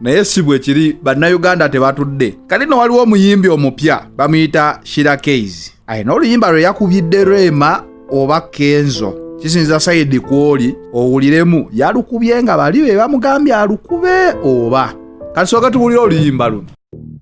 naye si bwe kiri bannayuganda tebatudde kati no waliwo omuyimbi omupya bamuyita shira keys alina oluyimba lwe yakubidde rema oba kenzo kisinza sayidi kwoli owuliremu yalukubye nga bali be bamugambye alukube oba kati soka tuwulire oluyimba luno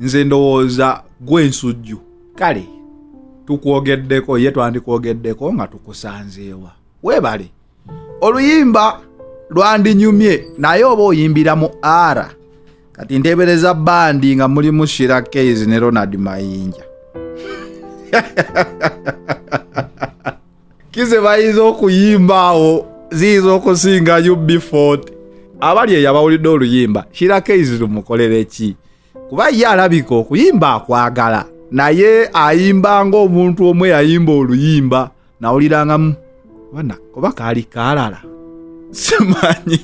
nze ndowooza gwe ensujju kale tukwogeddeko ye twandikwogeddeko nga tukusanzeewa weebale oluyimba lwandinyumye naye oba oyimbira mu ara kati nteebereza bandi nga mulimu shira kays ne ronald mayinja kize bayinza okuyimba awo ziyinza okusinga ubford abali eyo abawulidde oluyimba shirakeizi lumukolere ki kuba ye alabika okuyimba akwagala naye ayimba ngaomuntu omu eyayimba oluyimba nawulirangamu bona oba kaali kaalala simanyi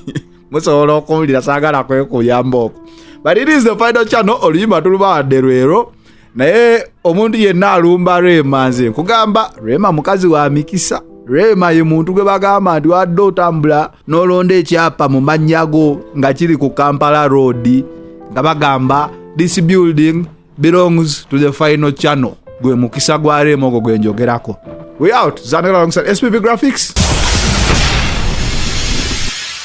musobola okuwulira sagala kwekuyamba oko but it is the final channel oluyimba tulubawadde lwero naye omuntu yenna alumba rema nze nkugamba rema mukazi wa mikisa rema ye muntu gwe bagamba nti wadde otambula n'olonda ekyapa mu mannya go nga kiri ku kampala road nga bagamba this building belongs to the final channel gwe mukisa gwa rema ogwo gwe njogerako we out zanera alongside spp graphics